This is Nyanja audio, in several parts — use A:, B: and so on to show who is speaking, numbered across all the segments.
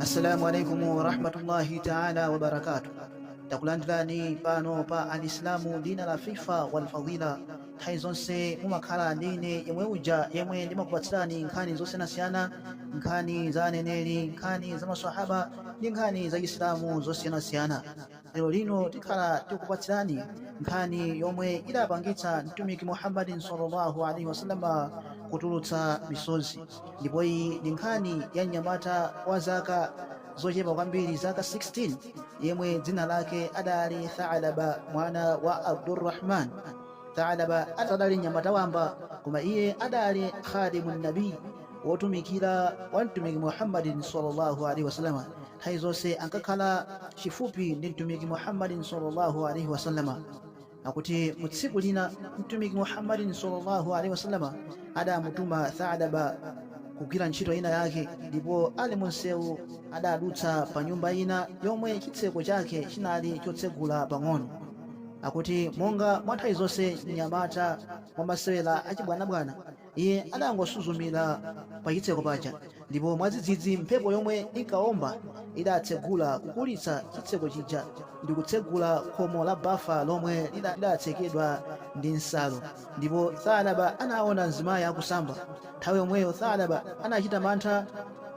A: assalamu alaikum warahmatullahi taala wabarakatu takulandirani pano pa alislamu dina la fifa walfadila nthawi zonse mumakhala ndi ine yemwe uja yemwe ndimakupatsirani nkhani zosiyanasiyana nkhani za aneneri nkhani za maswahaba ndi nkhani za chisilamu zosiyanasiyana Lero lino tikhala tikupatsirani nkhani yomwe idapangitsa Mtumiki Muhammadin sallallahu alaihi wasallam kutulutsa misozi, ndipo iyi ndi nkhani ya mnyamata wa zaka zochepa kwambiri, zaka 16, yemwe dzina lake adali Tha'laba mwana wa Abdur-Rahman. Tha'laba adali mnyamata wamba, koma iye adali Khadimun Nabi, wotumikira wa mtumiki muhammadin sallallahu alaihi wasallama nthawi zonse ankakhala chifupi ndi mtumiki muhammadin sallallahu alaihi wasallama akuti mu tsiku lina mtumiki muhammadin sallallahu alaihi wasallama adamutuma thalaba kugwira ntchito ina yake ndipo ali mu msewu adadutsa pa nyumba ina yomwe chitseko chake chinali chotsegula pang'ono akuti monga mwa nthawi zonse mnyamata mwa masewera achibwanabwana Iye adangosuzumira pa chitseko paja ndipo mwadzidzidzi mphepo yomwe inkawomba idatsegula kukulitsa chitseko chija ndikutsegula khomo la bafa lomwe lidatsekedwa ndi nsalu ndipo Thalaba anawona mzimayi akusamba nthawi yomweyo Thalaba anachita mantha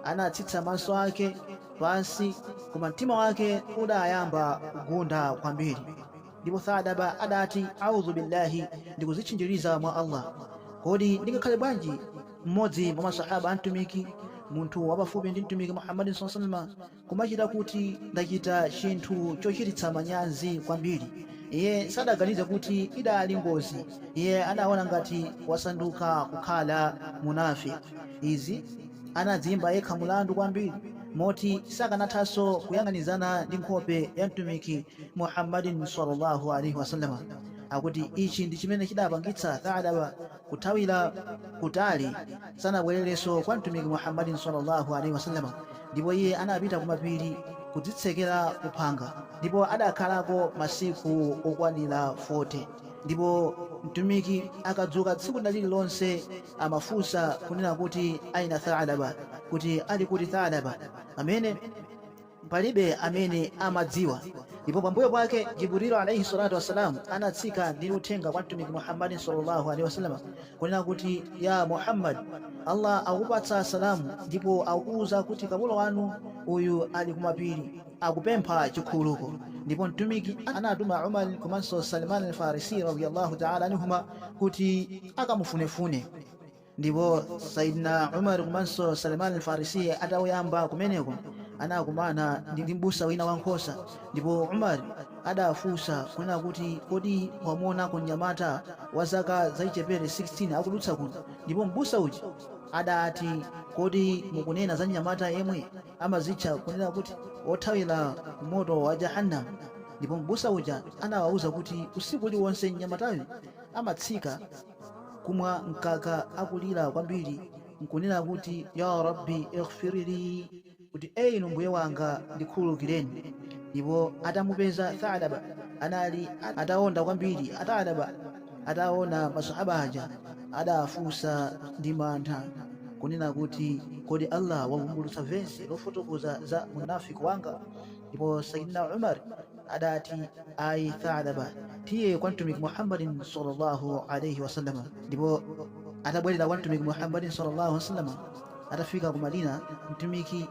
A: anatsitsa maso ake pansi koma mtima wake udayamba kugunda kwambiri. Ndipo Tha'laba adati, A'udhu billahi, ndikudzitchinjiriza mwa Allah. Kodi ndingakhale bwanji mmodzi mwa Maswahaaba a Mtumiki, munthu wapafupi ndi Mtumiki Muhammadin sallallahu alaihi wasallam, kumachita kuti ndachita chinthu chochititsa manyazi kwambiri? Iye sadaganize kuti idali ngozi, iye adaona ngati wasanduka kukhala munafiq. Izi anadziimba yekha mulandu kwambiri moti sakanathanso kuyang'anizana ndi nkhope ya Mtumiki Muhammadin sallallahu alaihi wasallam akuti ichi ndi chimene chidapangitsa Tha'laba kuthawira kutali sanabwererenso kwa Mtumiki Muhammadin sallallahu alaihi wasallam ndipo iye anapita kumapiri kudzitsekera kuphanga ndipo adakhalako masiku okwanira 40 ndipo Mtumiki akadzuka tsiku lina lililonse amafunsa kunena kuti aina Tha'laba kuti ali kuti Tha'laba amene Palibe amene amadziwa. Ndipo pambuyo pake Jibril alaih salatu wassalam anatsika ndi uthenga kwa Mtumiki Muhammadin sallallâhu alaihi wa sallam kunena kuti, Ya Muhammad! Allah akupatsa salam ndipo akukuuza kuti kapolo wanu uyu ali ku mapiri akupempha chikhululuko. Ndipo Mtumiki anatuma Umar komanso Salman Al-Farisiy radiyallâhu ta'âlâ anhumâ kuti akamufunefune. Ndipo Sayyidina Umar komanso Salman al-Farisi atauyamba kumeneko anakumana ndi ndi mbusa wina wa nkhosa ndipo Umar adawafunsa kunena kuti kodi wamuonako mnyamata wa zaka zachichepere 16 akudutsa kuno ndipo mbusa uja adati kodi mukunena za mnyamata yemwe amazitcha kunena kuti wothawira ku moto wa Jahannam ndipo mbusa uja anawauza kuti usiku uliwonse mnyamatayu amatsika kumwa mkaka akulira kwambiri n'kunena kuti, Ya Rabbi ighfir lii, kuti E inu Mbuye wanga ndikhululukireni. Ndipo atamupeza Tha'laba anali ataonda kwambiri. Tha'laba ataona maswahaba aja adafunsa ndi mantha kunena kuti, Kodi Allah wavumbulutsa vesi lofotokoza za unafiq wanga? Ndipo Sayyidina Umar. adati, Ayi Tha'laba, tiye kwa Mtumiki Muhammadin sallallâhu alaihi wa sallam. Ndipo atabwerera kwa Mtumiki Muhammadin sallallâhu alaihi wa sallam, atafika ku Madina, Mtumiki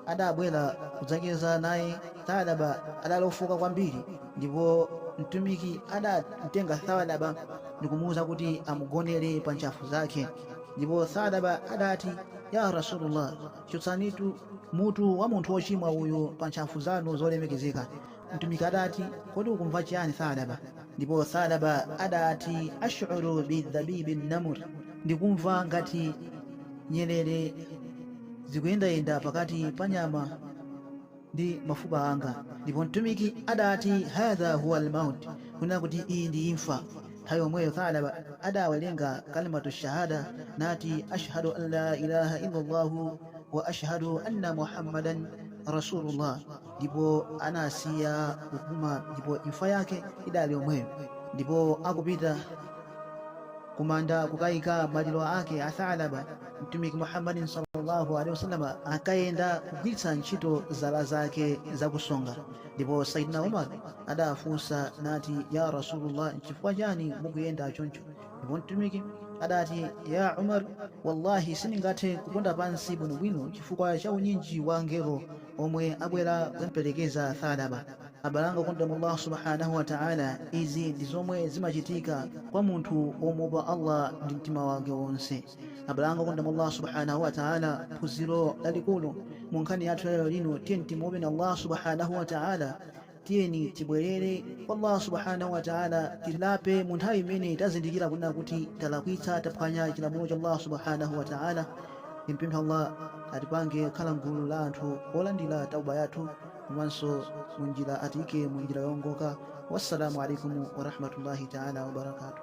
A: adabwera kudzacheza naye Tha'laba adali ofoka kwambiri, ndipo Mtumiki adamtenga Tha'laba ndikumuuza kuti amugonere pa ntchafu zake. Ndipo Tha'laba adati, Ya Rasulullah! Chotsanitu mutu wa munthu wochimwa uyu pa ntchafu zanu zolemekezeka. Mtumiki adati, Kodi ukumva chiyani Tha'laba? Ndipo Tha'laba adati, Ash'uru bi dabibi nnamli, Ndikumva ngati nyerere zikuyendayenda pakati pa nyama. ndi mafupa anga. Ndipo Mtumiki adati, Hadha huwal maut, kunena kuti iyi ndi imfa. Nthawi yomweyo Tha'laba adawerenga kalimatu shahada nati, Ash'hadu an la ilaha illallâhu wa ash'hadu anna Muhammadan Rasulullah. Ndipo anasiya kupuma ndipo imfa yake idali yomweyo. Ndipo akupita kumanda kukaika maliro ake a Tha'laba. mtumiki muhammadin sallallahu alaihi wasallam ankayenda kugwiritsa ntchito zala zake zakusonga ndipo saidina umar adafunsa nati ya rasulullah nchifukwa chani mukuyenda choncho ndipo mtumiki adati ya umar wallahi sindingathe kuponda pansi bwinobwino chifukwa cha unyinji wa angelo omwe abwera kumperekeza thalaba abale anga okonda mwa allah subhanahu wa ta'ala izi ndi zomwe zimachitika kwa munthu womuopa allah ndi mtima wake wonse abale anga okonda mwa allah subhanahu wataala phunziro lalikulu mu nkhani yathu ya lero lino tiyeni timuopeni allah subhanahu wataala tiyeni tibwerere kwa allah subhanahu wataala tilape mu nthawi imene tazindikira kunena kuti talakwitsa taphwanya chilamulo cha allah subhanahu wataala timpemphe allah atipange khala mgulu la anthu olandira tauba yathu komanso munjira atiike munjira yongoka wassalamu alaikum warahmatullahi taala wabarakatuh